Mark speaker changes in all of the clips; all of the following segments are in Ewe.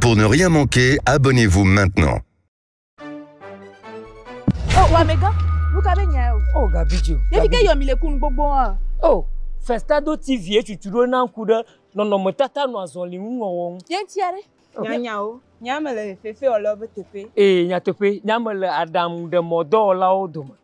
Speaker 1: Pour ne rien manquer, abonnez-vous maintenant. Oh, wa mega, luka be nya yo. Oh, gabi jo. Ne fike yo mi le kun gbogbo a. Oh, Festado TV e chuchu do na ku de nɔnɔme tata no azɔli ŋu wɔwɔ ŋu. Yen tia re. Nya nya o. Nya me le fefe o le be tepe. Eh, nya tepe. Nya me le adam de mɔ dɔ o la o dome.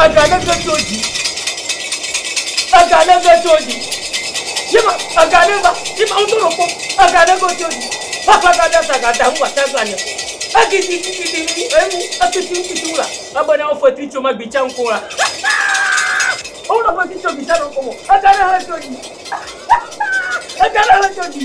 Speaker 1: Aga ne ve tso dzi. Aga ne ve tso dzi. Yema aga ne va. Yema wo toro ko. Aga ne go tso dzi. Papa ga da sa ga da hu wata gba ne. Agi di di di di ni emu akiti akiti wula. Aba na ofe ti tso ma gbi chan ko la. Ola fe ti tso gbi chan ko mo. Aga ne he tso dzi. Aga ne he tso dzi.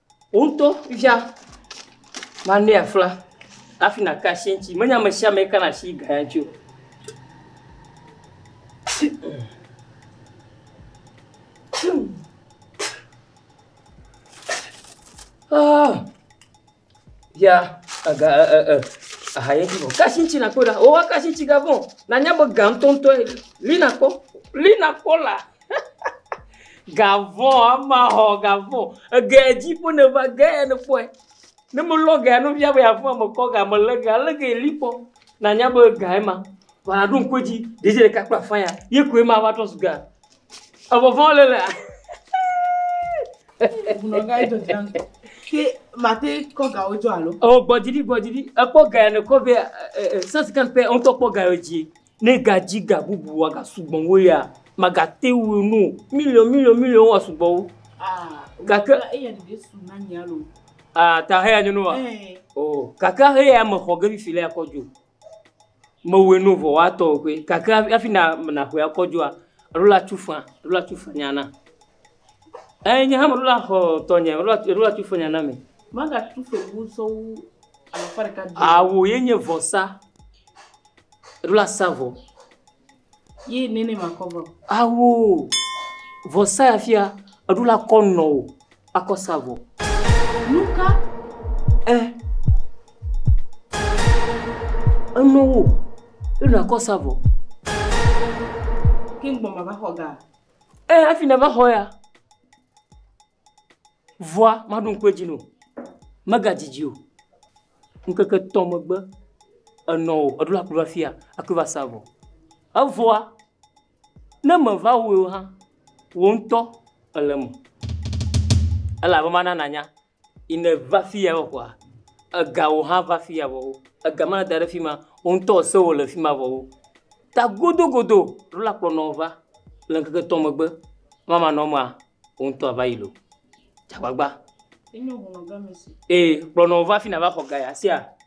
Speaker 1: Wò ŋutɔ fifia manɛ afla hafi nàka asi eŋuti. Menye ame sia ame kana asi ga ya ŋuti o. Ah, ya aga ɛ ɛ ɛ aha ye vɔ. Kasi ŋuti nakpɔ ɖa. Wowa kasi ŋuti ga vɔ. Nanya be ga ŋutɔŋutɔe. Li nakpɔ. Li nakpɔ la. Gavɔ ama xɔ gavɔ ege dzi ƒe ne va ge ya ne kpɔe ne me lɔ gea no fia be afɔ me kɔ ga me lɔ ga lɔ ga li kpɔ na nya be ga ye ma va ɖo ŋkɔ dzi ɖe dzi ɖeka kpla fa ya ye koe ma va trɔ su ga evɔ vɔ le le mate kɔ ga wo dzo alo o gbɔdzi di gbɔdzi di ekpɔ ga ya ne kɔ be sɛsikɛn pɛ ŋutɔ kpɔ ga yo dzi Ne egadzi ga bubu wòagasugbɔ wu eya, magate ŋui nu o. Miliɔn, miliɔn, miliɔn woasugbɔ wu. Gake. Eya ɖeɖe su na nye alo. Aa, ta heya nye nu wa? O, gake heya mexɔ ge fifi le akɔ dzo. Mewɔe nu vɔ woatɔ o koe. Gake hafi na, naxɔe akɔ dzoa, alo la tsu fã, alo la tsu fã nyana. Eyi nye hã meɖo la xɔ tɔnye, meɖo la meɖo la tu fenya na mi. Magatu fegusɔwu alafa ɖeka dzi. Awu ye nye vɔsa. Eɖo la sa vɔ. Ye nene makɔ vɔ. Awu vɔsa ya fia eɖo la kɔ nɔ o akɔ sa vɔ. Nuka? Ɛ. Enɔ wo. Eɖo la kɔ sa vɔ. Ke ŋgbɔ mava xɔ ga. Eya hafi nèva xɔ ya. Vɔa, maɖo ŋku edzi nɛ o. Megadidi o. Ŋkeke etɔ megbe, enɔ o, eɖo la aku ɖo afia, akɔe va sa vɔ. Evɔa, ne meva wɔe o hã, wò ŋutɔ èle eme. Elabe mana nànya yi ne va fi ya kɔa, egawo hã va fi ya vɔ wo. Ega ma da ɖe fi ma, wò ŋutɔ ese wò le fi ma vɔ wo. Ta godogodo ɖo la kplɔ nɔ wò va le ŋkeke etɔ̃ megbe ma manɔ mea, wò ŋutɔ ava yi loo. Tsa agbagba. Ee, kplɔ nɔ wò va fi na va xɔ ga ya sia.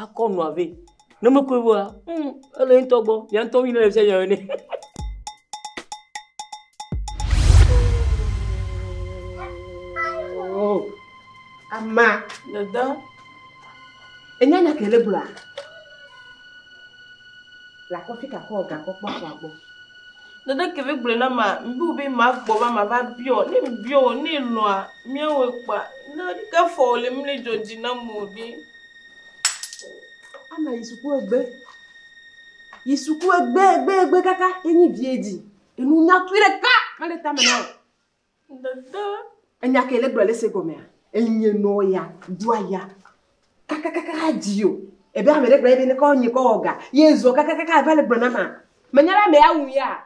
Speaker 1: akɔ nua vɛ ne mekɔe vɔa mm, ele ŋutɔ gbɔ mia ŋutɔ mi ne le fia nya ene ama dada enya nya kele gblɔa le akɔfi kakɔ ga kɔkpɔ kɔ agbɔ dada kele gblɔ na ma mbiwo be ma gbɔ va ma va biɔ ne biɔ ne lɔa miawo kpa na ɖika fɔ le mle jɔji na mo ɖi Ana yi suku egbe. Yi suku egbe egbe egbe kaka enyi vie dzi. Enu nyakui ɖeka mele tame na o. Dede. Enya ke le gblɔ le se gɔmea. Enye nɔ ya, do aya. Kaka kaka ha dzi o. Ebe ame ɖe gblɔ ebe ne kɔ nye kɔ ɔga. Ye zɔ kaka kaka va le gblɔ na ma. Menya la me ya wu ya.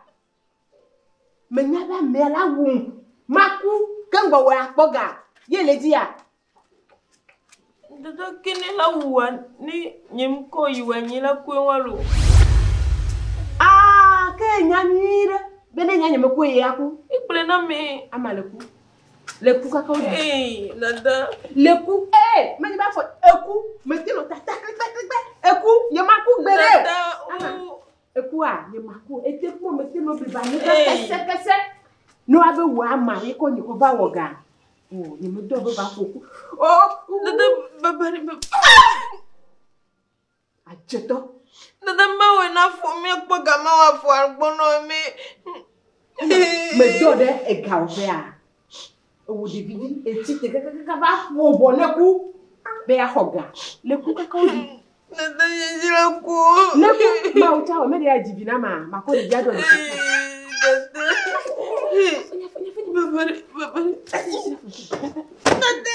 Speaker 1: Menya be amea la wum. Maku ke gbɔwɔe akpɔ ga ye le dziya. Dodo kini la wuwa ni nyim ko yi wɛ nyi la kue walo. Ah, ke nya nyui ɖe be ne nya nye me kue ye aku. Ikple na me. Ama le ku. Le ku kaka wo. Ei, dada. Le ku. Eh, me nyi ba fɔ eku. Me tino ta ta klikpe klikpe. Eku, ye ma ku gbe ɖe. Dada, u. Ekua nye maku ete kpɔ mete no biba nye ka kese kese no ave wo ama ye ko nye ko va wo ga o nye me do be va ko ku o ku dede ba ba ni ba a je to dede ba wo na fo mi ko ga ma wa fo arbo no mi me do de e ga o fe a ewɔ ɖevi ɖi etsi te kakakaka va ƒo bɔ ne ku be axɔ ga ne ku kaka wo ɖi. Nete yi dzra ku. Ne ku ma wo tsa wɔ mɛ de ya dzi vi na ma ma kɔ ɖevi adɔ ɖe. Nete. Bebe bebe. Nete.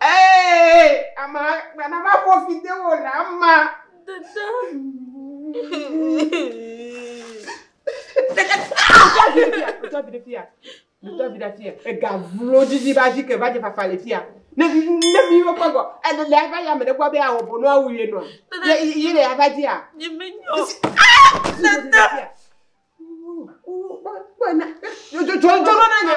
Speaker 1: Ee, ama gbana va ƒo fi de wo le ama. Dada. Dada vi ɖe fia, dada vi ɖe fia. Dada vi ɖe fia. Ega vlo didi ba dzi ke va dze fafa le fia. Ne ne mi wo kpagɔ, ele le ava ya me ɖe gbɔ be awɔ bonu awu ye nɔ. Ye ye le ava dzi a. Nye me nyo. Dada. Kpɔ na. Jɔ jɔ jɔ na nya.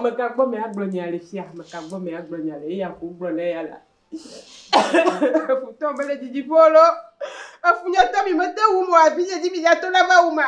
Speaker 1: Mekagbɔ mea gblɔ nya le fia, mekagbɔ mea gblɔ nya le eya ko gblɔ le eya la. Efutɔ mele dzidziƒo lo, efunyɔtɔ mi mete wu mo afi yedzi mi ya to la va wu ma.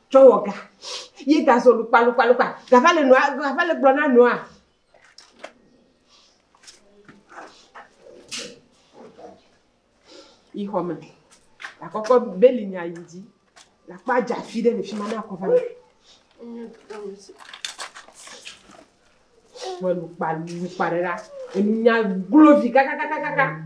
Speaker 1: tsɔ wɔ ga ye gazɔ lukpalukpalukpa gava le nɔa gava le gblɔ na nɔa yi xɔ me akɔkɔ beli nya yi dzi la kpa dza fi ɖe le fi ma na kɔ va me wɔ lukpalukpa ɖe la enu nya glovi kakakakaka.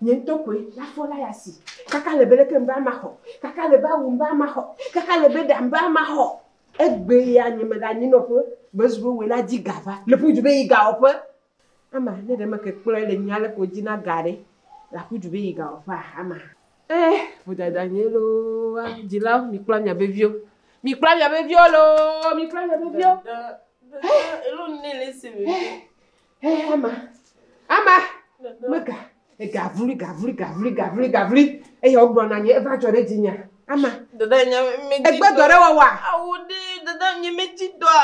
Speaker 1: Nye ŋutɔ koe le afɔ la ya si. Kaka le be leke ŋbe ama xɔ. Kaka le be awu ŋbe ama xɔ. Kaka le be ɖa ŋbe ama xɔ. Egbe ya nye me ɖe anyi nɔƒe be zu be woe la dzi ga va. Le ƒu du be yi ga wɔƒe. Ama, ne ɖe me ke kplɔe le nyuia le ko dzi na ga ɖe. La ƒu du be yi ga wɔƒe a? Ama. Eh, vodada nye loo a, dzilawo, mi kpla mia be viwo. Mi kpla mia be viwo loo, mi kpla mia be viwo. Eh, eh, Xexeame, ame mega egavli gavli gavli gavli gavli eye wogblɔ na nye eva dzɔ ɖe dzinye. Ame dada nye medzi egbe dɔ ɖe wɔwɔa? Awu ɖi dada nye medzi dɔa.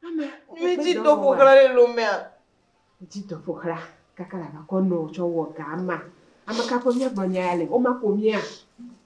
Speaker 1: Ame medzi dɔ ƒoxla le lomea. Dzi dɔ ƒoxla kaka la vakɔ nɔ tsɔ wɔ ga ama. Ame ka ƒe miagblɔ nya ya le? Woma ko mia.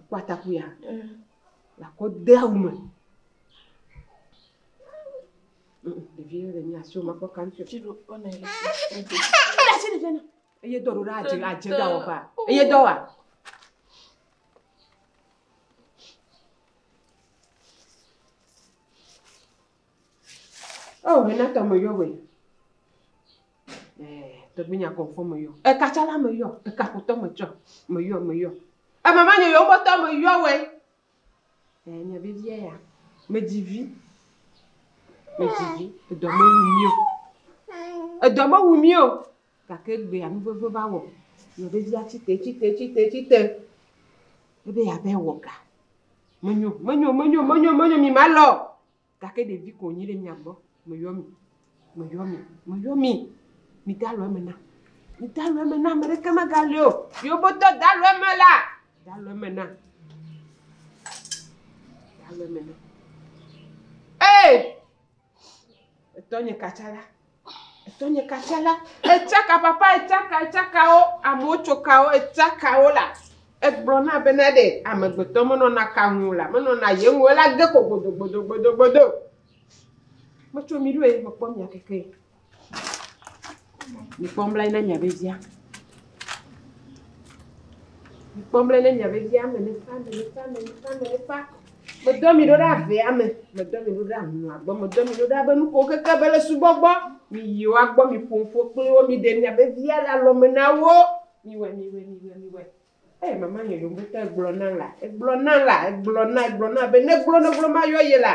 Speaker 1: ekɔ atakuia la kɔ de awu me. Ɖevi ɖe nye asi wòme kpɔ kan tso. Eye dɔ ɖo ɖe adze adze ɖa wɔ ba. Eye dɔ wa. Oh, hena tɔmɔ yɔ wɛ. Tɔgbinya kɔnfɔ me yɔ. Eka tsã la me yɔ. Eka xotɔ me tsɔ. Me yɔ, me yɔ. Eme ma nye yɔ me tɔ me yɔ wɛ. Eh, nya vevia ya. Me dzi vi. Me dzi vi. Edɔ me wu mio. Edɔ me wu mio. Gake gbea nu veve va wɔ. Nya vevia tsi te, tsi te, tsi te, tsi te. Ebe ya be wɔ ga. Menyo, menyo, menyo, menyo, menyo, mi ma lɔ. Gake ɖevi ko wònyi ɖe mia gbɔ. Meyɔ mi, meyɔ mi, meyɔ mi. Migalɔ eme nam. Migalɔ eme nam, ame ɖeke megali o. Yobotɔ, galɔ eme la. Galɔ eme nam. Galɔ eme nam. Ee! Etɔnye katsala. Tonyeka tsɛ la, etsaka papa, etsaka, etsakawo, amewo tso kawo, etsakawo la, egblɔ na bena ɖe amegbetɔ menɔna ka ŋu o la, menɔna ye ŋu o, ela ge ko gbodogbodogbodo. Metso mi ɖo ye, mekpɔ mia keke ye. Mikpɔ nublanui na mia ɖodzia. Mikpɔ mlɛ ne mia vevi ame ne fa ame ne fa ame ne fa ame ne fa. Medɔ mi ɖo ɖe avea me, medɔ mi ɖo ɖe ahlɔa gbɔ, medɔ mi ɖo ɖe abe nuko keke be le subɔ gbɔ. Mi yi wa gbɔ, mi ƒo ƒo kple wo, mi ɖe mia vevia le alɔme na wo. Mi wɛ, mi wɛ, mi wɛ, mi wɛ. Eye mama nyɔnyɔ ŋutɔ egblɔ na la, egblɔ na la, egblɔ na, egblɔ na be ne gblɔ ne gblɔ ma yɔ ye la.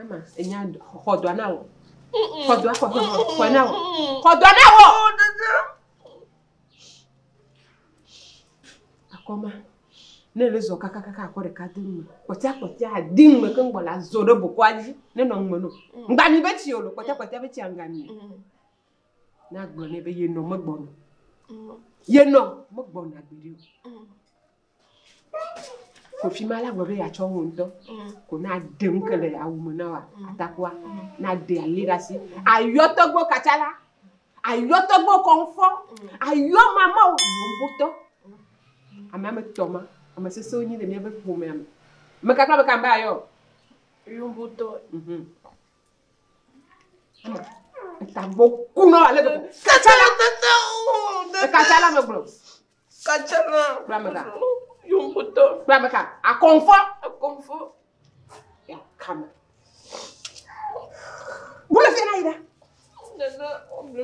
Speaker 1: Ama, enya xɔ dɔa na wɔ. Xɔ dɔa, xɔ dɔa, xɔ na wɔ. Xɔ dɔa na wɔ. Akɔma, ne le zɔ kakakaka akɔ ɖeka di ŋme. Kpɔtia kpɔtia adi ŋme ke ŋgbɔ la zɔ ɖe bokɔa dzi. Ne nɔ ŋme no. Ŋgba mi be tsi o lo. Kpɔtia kpɔtia be tsia ŋgba mi. Na gblɔ ne be yenɔ megbɔ no. Yenɔ megbɔ na gbeɖe o. Kofi ma la gblɔ be yeatsɔ wò ŋutɔ ko na ɖe nu ke le awu me na wa atakua na ɖe ali ɖe asi ayɔ tɔgbo katsa la ayɔ tɔgbo kɔnfɔ ayɔ mama wo wotɔ ame ame tɔ ma ame sese wonyi le míaƒe ƒomea me me kakra me kan be ayɔ yomotɔ mhm tagbo kunɔ ale gbegbe katsa la katsa la me gblɔ Kacana. Kpla me ka. Yomotɔ. Kpla me ka. Akɔnfɔ. Akɔnfɔ. Ya kame. Bolo fi na yi da. Nana ɔbɛ.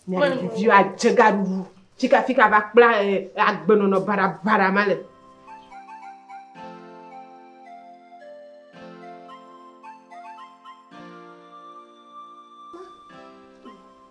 Speaker 1: Ne ɖeviwo adze gaɖuɖu. Fika fika va kpla eh, agbenɔnɔ baɖabaɖa ma le.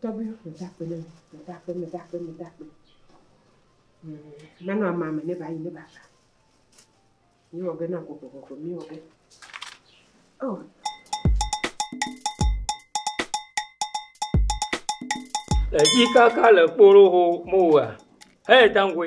Speaker 1: Tɔgbi meda akpe ne mi, meda akpe, meda akpe, meda akpe. Nanu ama me ne bayi ne bava. Mi wɔ ge na gbogbogbogbo, mi wɔ ge. Oh. Edzi kaka le kporo ho mo wa. Hey, Tangwe.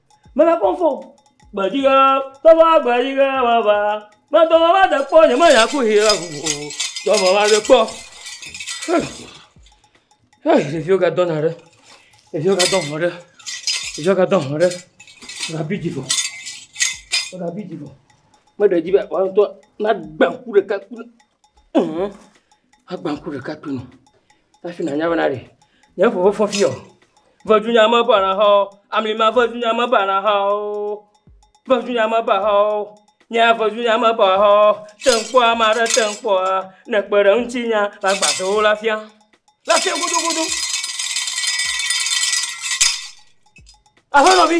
Speaker 1: Mele kpɔm fɔ o. Gbeɖiʋe, togbɔ gbeɖiʋe meva. Medo vava ɖe kpɔ nye menya ku yi ɖe ŋu o. Dɔ vava ɖe kpɔ. Hɛɛ hɛɛ ɖeviwo ga dɔna ɖe. Ɖeviwo ga dɔ ŋɔ ɖe. Ɖeviwo ga dɔ ŋɔ ɖe. Wo ga bi dzi vɔ. Wo ga bi dzi vɔ. Meɖe dzi be woa ŋtɔ na gbe ŋku ɖeka ku. Eeee agba ŋku ɖeka to nu hafi nànya be naɖe. Nye ŋu mefɔ fiya o. Vedunya meba na xɔa o. Ami ma vedunya meba na xɔa o. Vedunya meba xɔa o. Nye ya vedunya meba xɔa o. Te ŋu kpɔa, ame aɖe te ŋu kpɔa, ne èkpe ɖe ŋutinyea, magbãtɔ wò le afia. Le afia godogodo. Aƒenɔvi!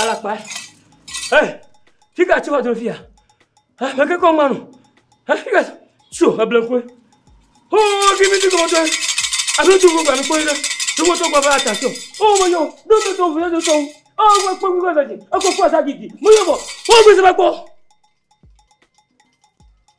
Speaker 1: alakpa ɛ fika tsi wa dro fia ɛ mɛ kekɔ ma no ɛ fika tsi o eble koe hoo kimi ti kɔmɔ tɔɛ abe tu ko gbanu koe ɖe tu ko tɔ gba ba ata tsi o o me yɔ do do do vle do tɔwu ɔ gba kpɔ kpɔ gba dzi ekɔ kpɔ asa gidi me yɔ bɔ o gbèsè ba kpɔ.